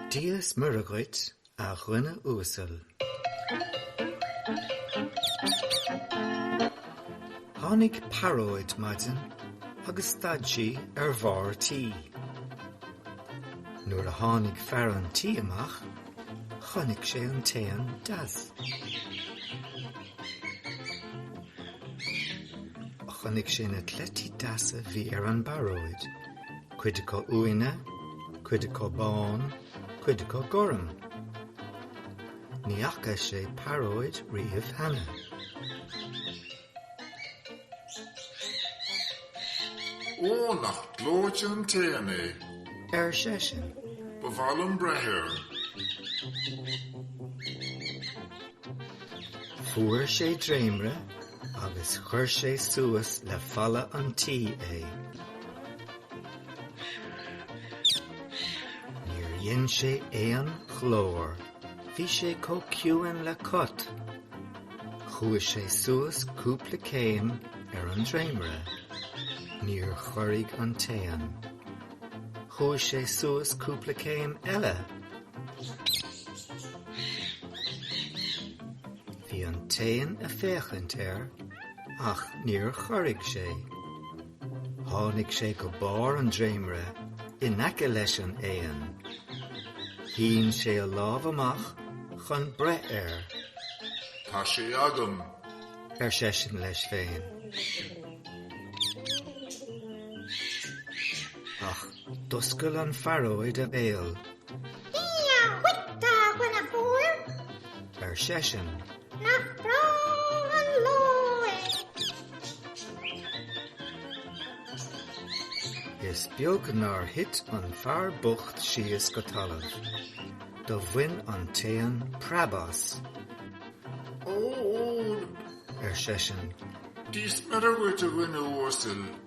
Dia 's Muire dhuit, a dhuine uasail. Tháinig pearóid maidin agus stad sí ar bharr tí. Nuair a tháinig fear an tí amach. Chonaic sé an t-éan deas. Chonaic sé na cleití deasa bhí ar an bpearóid, cuid acu uaine, cuid acu bán, cuid acu gorm. Ní fhaca sé pearóid riamh cheana. Ó, nach gleoite an t-éan é! ar seisean. Ba mhaith liom breith air. Fuair sé dréimre agus chuir sé suas le falla an tí é. Níor dhein sé aon ghlór. Bhí sé chomh ciúin le cat. Chuaigh sé suas cúpla céim ar an dréimire. Níor chorraigh an t-éan. Chuaigh sé suas cúpla céim eile. Bhí an t-éan ag féachaint air ach níor chorraigh sé. Tháinig sé go barr an dréimire in aice leis an éan. Shín sé a lámh amach chun breith air. Tá sé agam! ar seisean leis féin. D'oscail an phearóid a béal. Dia dhuit, a dhuine chóir! ar seisean. Nach breá an lá é! Is beag nár thit an fear bocht síos go talamh. Do bhain an t-éan preab as. Ó, ar seisean. Dia 's Muire dhuit a dhuine uasail.